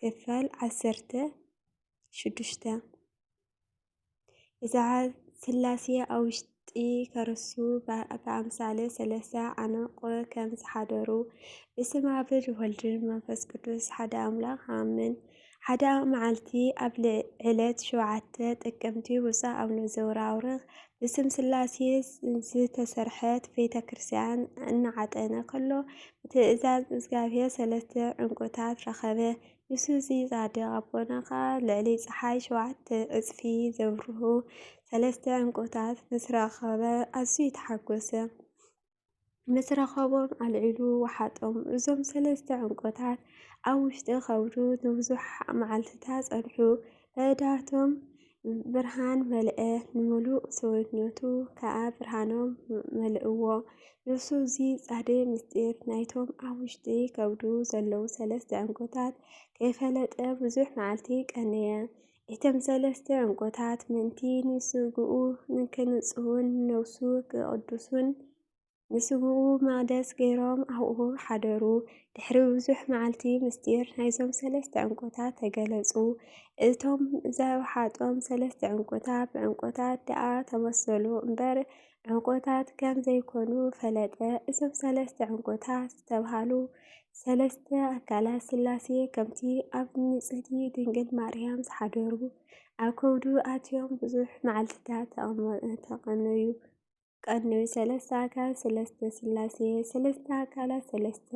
ክፋል ዓሰርተ ሽዱሽተ እዛ ስላሴ ኣብ ውሽጢ ከርሱ ብኣምሳለ ሰለስተ ዓነቆ ከም ዝሓደሩ ብስም ኣብ ወልድን መንፈስ ቅዱስ ሓደ ኣምላኽ ኣምን። ሓደ መዓልቲ ኣብ ዕለት ሸውዓተ ጥቅምቲ ውፃእ ኣብ ዘውራውርኽ ብስም ስላሴ ዝተሰርሐት ቤተ ክርስቲያን እናዓጠነ ከሎ ብትእዛዝ እግዚኣብሔር ሰለስተ ዕንቁታት ረኸበ። ምስ እዚ ጻድቕ ኣቦና ኸኣ ልዕሊ ጸሓይ ሸውዓተ ዕጽፊ ዘብርሁ ሰለስተ ዕንቁታት ምስ ረኸበ ኣዝዩ ተሓጐሰ። ምስ ረኸቦም ኣልዒሉ ወሓጦም። እዞም ሰለስተ ዕንቁታት ኣብ ውሽጢ ከብዱ ንብዙሕ መዓልትታት ጸንሑ። ኣእዳዎም ብርሃን መልአ፣ ንምሉእ ሰውነቱ ከኣ ብርሃኖም መልእዎ። ንሱ እዚ ጻዕደ ምስጢር ናይቶም ኣብ ውሽጢ ከብዱ ዘለዉ ሰለስተ ዕንቁታት ከይፈለጠ ብዙሕ መዓልቲ ቀነየ። እቶም ሰለስተ ዕንቁታት ምእንቲ ንስግኡ ንክንጽሁን ነፍሱ ክቕድሱን ንስግኡ መቕደስ ገይሮም ኣብኡ ሓደሩ። ድሕሪ ብዙሕ መዓልቲ ምስጢር ናይዞም ሰለስተ ዕንቁታት ተገለጹ። እቶም ዘውሓጦም ሰለስተ ዕንቁታት ብዕንቁታት ደኣ ተመሰሉ እምበር፣ ዕንቁታት ከም ዘይኮኑ ፈለጠ። እዞም ሰለስተ ዕንቁታት ዝተብሃሉ ሰለስተ ኣካላት ስላሴ ከምቲ ኣብ ንጽህቲ ድንግል ማርያም ዝሓደሩ ኣብ ከብዱ ኣትዮም ብዙሕ መዓልትታት ተቐነዩ ቀነዩ። ሰለስተ ኣካል ሰለስተ ስላሴ ሰለስተ ኣካላት ሰለስተ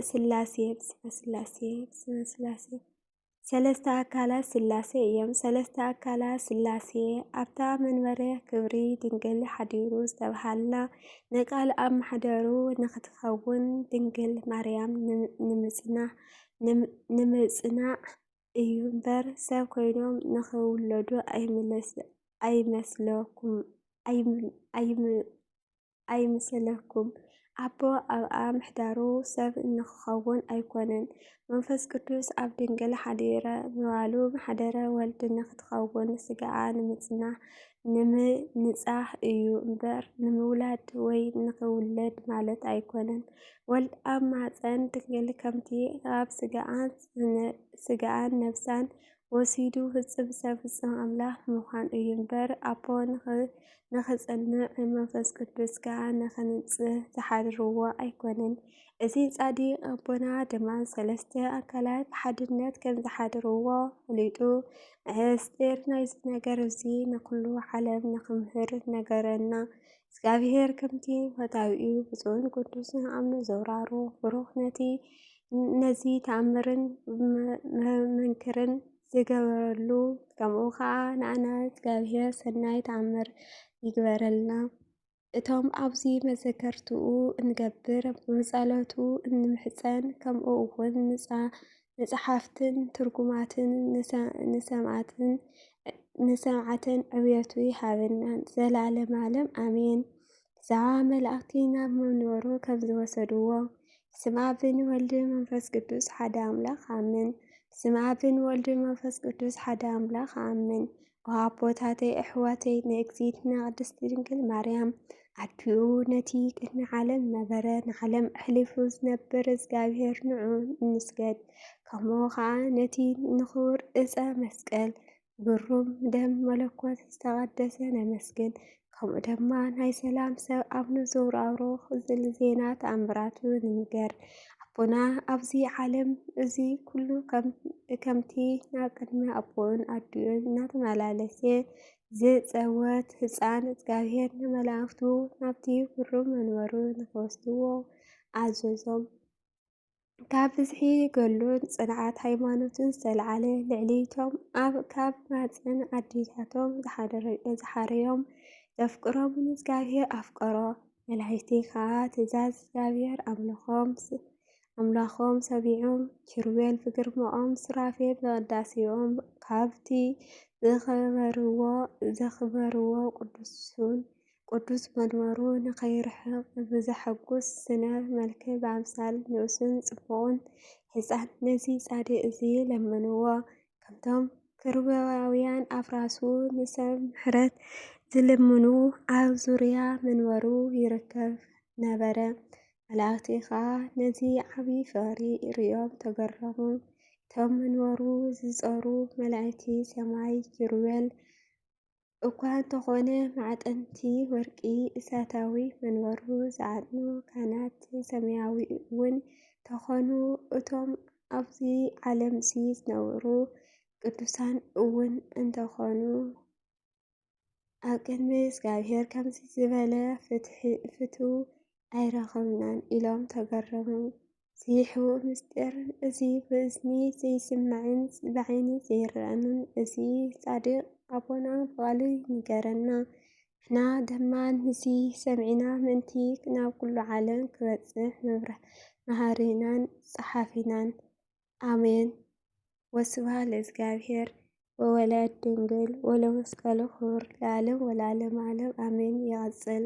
ስላሴ ስላሴ ስላሴ ሰለስተ ኣካላት ሥላሴ እዮም። ሰለስተ ኣካላት ሥላሴ ኣብታ መንበረ ክብሪ ድንግል ሓዲሩ ዝተብሃላ ንቃል ኣብ ማሕደሩ ንክትከውን ድንግል ማርያም ንምጽናዕ እዩ እምበር ሰብ ኮይኖም ንክውለዱ ኣይመስለኩምን። ኣይምሰለኩም። ኣቦ ኣብኣ ምሕዳሩ ሰብ እንክኸውን ኣይኮነን። መንፈስ ቅዱስ ኣብ ድንግል ሓዲረ ምባሉ ምሓደረ ወልድ ንክትኸውን ስጋኣ ንምጽናሕ ንምንጻህ እዩ እምበር ንምውላድ ወይ ንክውለድ ማለት ኣይኮነን። ወልድ ኣብ ማህፀን ድንግል ከምቲ ኣብ ስጋኣን ነብሳን ወሲዱ ህጽብጸብ ፍጹም ኣምላኽ ምዃን እዩ እምበር ኣቦ ንኽጽንዕ መንፈስ ቅዱስ ከኣ ንኽንጽህ ዝሓድርዎ ኣይኮነን። እዚ ጻዲቅ ኣቦና ድማ ሰለስተ ኣካላት ብሓድነት ከም ዝሓድርዎ ፈሊጡ ምስጢር ናይዚ ነገር እዚ ንኹሉ ዓለም ንኽምህር ነገረና። እግዚኣብሔር ከምቲ ፈታዊኡ ብፁዕን ቅዱስን ኣምነ ዘውራሩ ብሩኽ ነቲ ነዚ ተኣምርን መንክርን ዝገበረሉ ከምኡ ከዓ ንኣና እግዚኣብሔር ሰናይ ተኣምር ይግበረልና። እቶም ኣብዚ መዘከርትኡ እንገብር ብጸሎቱ እንምሕፀን ከምኡ እውን ንጸሓፍትን ትርጉማትን ንሰምዓትን ንሰምዓተን ዕብየቱ ይሃበናን ዘላለም ኣለም ኣሜን። ዛዋ መላእክቲ ናብ መንበሩ ከም ዝወሰድዎ ስም ኣብን ወልድ መንፈስ ቅዱስ ሓደ ኣምላኽ ኣምን። ስም ኣብን ወልድ መንፈስ ቅዱስ ሓደ ኣምላኽ ኣምን። ኣቦታተይ ኣሕዋተይ ንእግዝእትና ቅድስት ድንግል ማርያም ኣዲኡ ነቲ ቅድሚ ዓለም ነበረ ንዓለም ኣሕሊፉ ዝነብር እግዚኣብሔር ንዑ እንስገድ ከምኡ ከዓ ነቲ ንኽቡር እፀ መስቀል ግሩም ደም መለኮት ዝተቐደሰ ነመስግን ከምኡ ደማ ናይ ሰላም ሰብ ኣብ ንዞብሩ ኣብሮ ኽዝል ዜና ተኣምራቱ ንንገር ኣቦና ኣብዚ ዓለም እዚ ኩሉ ከምቲ ናብ ቅድሚ ኣቦኡን ኣዲኡን እናተመላለሰ ዝጸወት ህፃን እግዚኣብሔር ንመላእኽቱ ናብቲ ብሩ መንበሩ ንኸወስድዎ ኣዘዞም። ካብ ብዝሒ ገሉን ፅንዓት ሃይማኖትን ዝተልዓለ ልዕሊቶም ኣብ ካብ ማፀን ኣዴታቶም ዝሓረዮም ዘፍቅሮም ንእግዚኣብሔር ኣፍቀሮ መላእክቲ ከዓ ትእዛዝ እግዚኣብሔር ኣምላኾም ሰሚዖም ኪሩቤል ብግርማኦም ሱራፌል ብቅዳሴኦም ካብቲ ዘኽበርዎ ቅዱሱን ቅዱስ መድመሩ ንኸይርሕቕ ብዘሐጉስ ስነ መልክዕ ብኣምሳል ንኡስን ጽቡቕን ሕጻን ነዚ ጻድቕ እዚ ለመንዎ። ከምቶም ክሩባውያን ኣፍራሱ ንሰብ ምሕረት ዝልምኑ ኣብ ዙርያ መንበሩ ይርከብ ነበረ። መላእኽቲ ኸኣ ነዚ ዓቢ ፍቕሪ ርእዮም ተገረሙ። እቶም መንበሩ ዝጸሩ መላእክቲ ሰማይ ኪሩቤል እኳ እንተኾነ ማዕጠንቲ ወርቂ እሳታዊ መንበሩ ዝዓጥኑ ካህናት ሰማያዊ እውን ተኾኑ እቶም ኣብዚ ዓለም ሲ ዝነብሩ ቅዱሳን እውን እንተኾኑ ኣብ ቅድሚ እግዚኣብሔር ከምዚ ዝበለ ፍትው ኣይረኸብናን ኢሎም ተገረሙ። እዚ ሕቡእ ምስጢር እዚ ብእዝኒ ዘይስማዕን ብዓይኒ ዘይረኣን እዚ ጻድቕ ኣቦና ብቓሉ ይንገረና። ንሕና ድማ ንዚ ሰሚዕና ምእንቲ ናብ ኩሉ ዓለም ክበጽሕ መሃሪናን ጸሓፊናን። ኣሜን ወስብሃ ለእግዚኣብሔር ወወላድ ድንግል ወለመስቀሉ ክቡር ለዓለም ወለዓለም ዓለም ኣሜን። ይቐጽል።